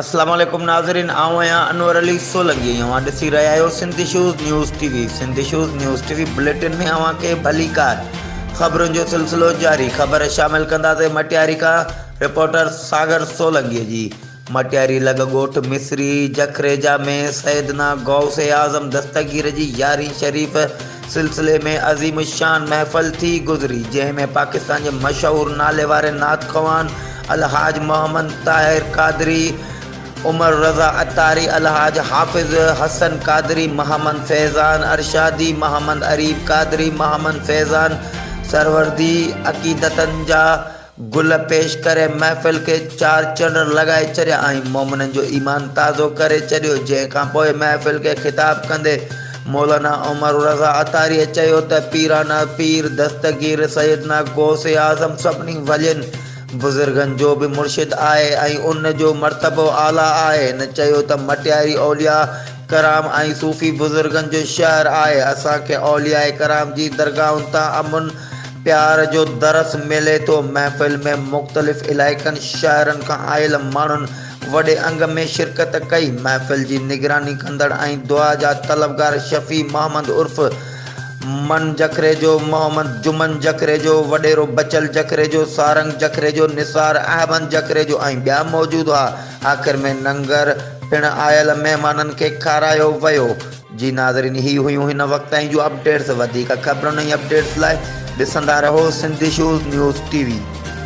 السلام عليڪم ناظرين آئون آهيان انور علي سولنگي ۽ اوهان ڏسي رهيا آهيو Sindh issues news T V Sindh issues news T V bulletin ۾ اوهان کي ڀليڪار خبرن جو سلسلو جاري خبر شامل ڪنداسين مٽياري کان رپورٽر ساگر سولنگي جي مٽياري لڳ ڳوٺ مصري جکريجا ۾ سيدنا غوث اعظم دستگير جي يارهين شريف سلسلي ۾ عظيم الشان محفل ٿي گذري جنهن ۾ پاڪستان جي مشهور نالي واري نعت خوان الحاج محمد طاهر قادري، عمر رضا عطاري، الحاج حافظ حسن قادري، محمد فيضان ارشادي، محمد عريب قادري، محمد فيضان سهروردي، عقيدتن جا گل پيش ڪري محفل کي چار چنڙ لڳائي ڇڏيا ۽ مومنن جو ايمان تازو ڪري ڇڏيو جنهن کان پوء محفل کي خطاب ڪندي مولانا عمر رضا عطاريء چيو ته پيرانا پير دستگير سيدنا غوث اعظم سڀني ولين بزرگن جو به مرشد آهي ۽ ان جو مرتبو اعليٰ آهي هن چيو ته مٽياري اولياء ڪرام ۽ صوفي بزرگن جو شهر آهي اسان کي اولياء ڪرام جي درگاهن تان امن پيار جو درس ملي ٿو. محفل ۾ مختلف علائقن شهرن کان آيل ماڻهن وڏي انگ ۾ شرڪت ڪئي. محفل جي نگراني ڪندڙ ۽ دعا جا طلبگار شفيع محمد عرف من جکريجو، محمد جمن جکريجو، وڏيرو بچل جکريجو، سارنگ جکريجو، نثار احمد جکريجو ۽ ٻيا موجود هئا. آخر ۾ ننگر پڻ آيل مهمانن کي کارايو ويو. جي ناظرين هي هيون هن وقت تائين جون اپڊيٽس وڌيڪ خبرن ۽ اپڊيٽس لاء ڏسندا رهو Sindh issues news T V.